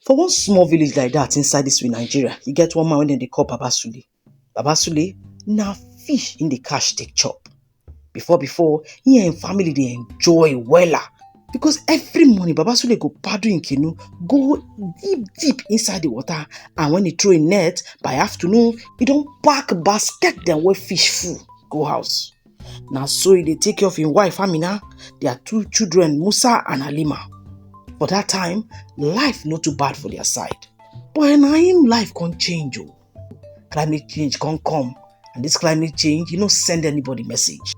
For one small village like dat inside dis we Nigeria, e get one man wey dem dey call Baba Sule. Baba Sule na fish im dey catch dey chop. Before before, im and im family dey enjoy wella because every morning, Baba Sule go paddle im canoe go deep deep inside de water and wen e throw im net, by afternoon, e don pack basket dem wey fish full go house. na so e dey take care of im wife amina their two children musa and halima for that time life no too bad for their side but na im life come change o climate change come come and this climate change e no send anybody message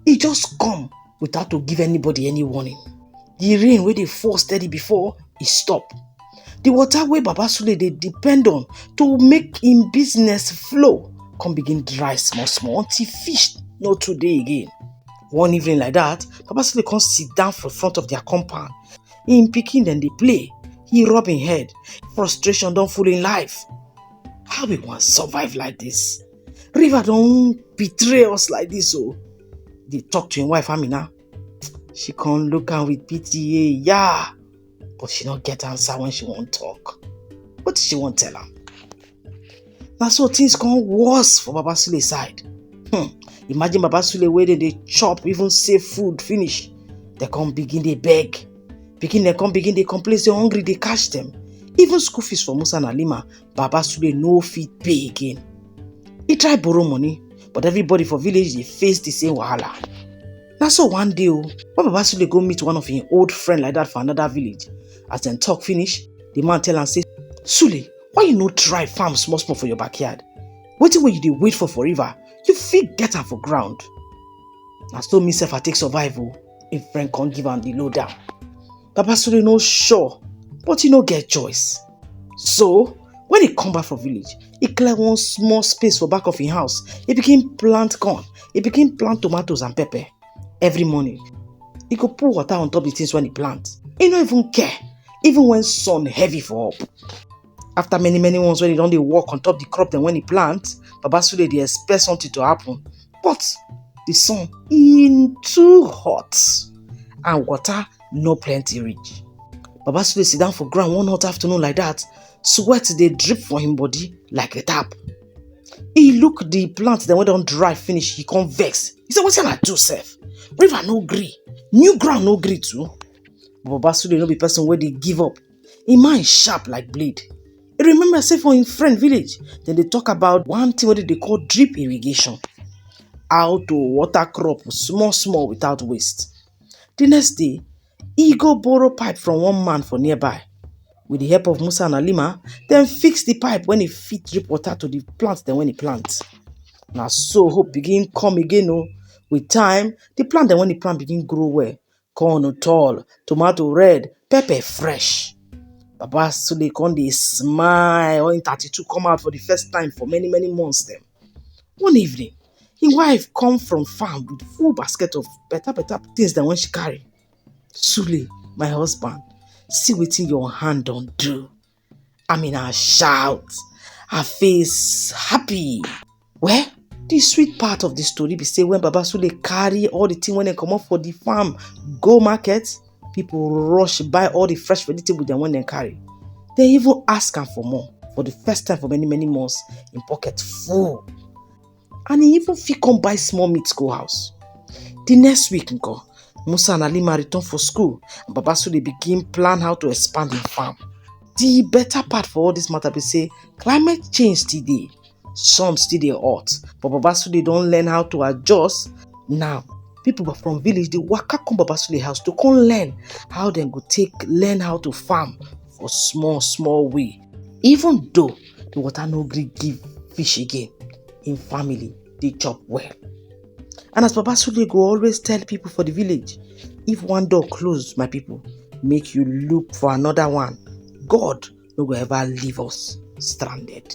e just come without to give anybody any warning the rain wey dey fall steady before e stop the water wey baba sule dey depend on to make im business flow come begin dry small small until fish no too dey again one evening like that baba sule come sit down for front of their compound im pikin dem dey play he rub im head frustration don full im life how we wan survive like this river don betray us like this o dey talk to im wife amina she come look am with pity yeah but she no get answer when she wan talk What she wan tell am na so things come worse for baba sule side hmm. imagine baba sule wey dey dey chop even save food finish dem come begin dey beg pikin dem come begin dey complain say hungry dey catch dem even school fees for musa and halima baba sule no fit pay again e try borrow money but everybody for village dey face the same wahala na so one day o when baba sule go meet one of him old friend like that for another village as dem talk finish the man tell am say sule why you no try farm small small for your backyard wetin wey you dey wait for for river you fit get am for ground na so me sef i take survive o him friend come give am the lowdown baba sule no sure but he no get choice So, when he come back for village, he clear one small space for back of his house. He begin plant corn. He begin plant tomatoes and pepper. Every morning, he go pour water on top the things when he plant. He no even care, even when sun heavy for up. After many many ones when he don dey work on top the crop then when he plant, Baba Sule dey expect something to happen. But the sun in too hot and water no plenty reach baba sule sit down for ground one hot afternoon like that sweat dey drip for him body like a tap he look the plant dem wey don dry finish he come vex he say wetin i do sef river no gree new ground no gree too but baba sule no be person wey dey give up him mind sharp like blade he remember say for him friend village dem dey talk about one thing wey dem dey call drip irrigation how to water crop small small without waste Di next day, e go borrow pipe from one man for nearby. With di help of Musa and Alima, dem fix di pipe wen e fit drip water to di plant dem wen e plant. Na so hope begin come again o. With time, di plant dem wen e plant begin grow well. Corn tall, tomato red, pepper fresh. Baba Sule come dey smile wen im thirty two come out for di first time for many many months dem. One evening, him wife come from farm with full basket of better better things dem wan she carry sule my husband see wetin your hand don do i mean i shout her face happy well the sweet part of the story be say when baba sule carry all the thing wey dem comot for the farm go market people rush buy all the fresh vegetable dem wey dem carry dem even ask am for more for the first time for many many months im pocket full and he even fit come buy small meat go house. The next week nko, Musa and Alima return for school and Baba Sule begin plan how to expand him farm. The better part for all this matter be say climate change still dey, sun still dey hot but Baba Sule don learn how to adjust now. People from village dey waka come Baba Sule house to come learn how dem go take learn how to farm for small small way even though the water no gree give fish again im family dey chop well and as baba sule go always tell people for the village if one door close my people make you look for another one god no go ever leave us stranded.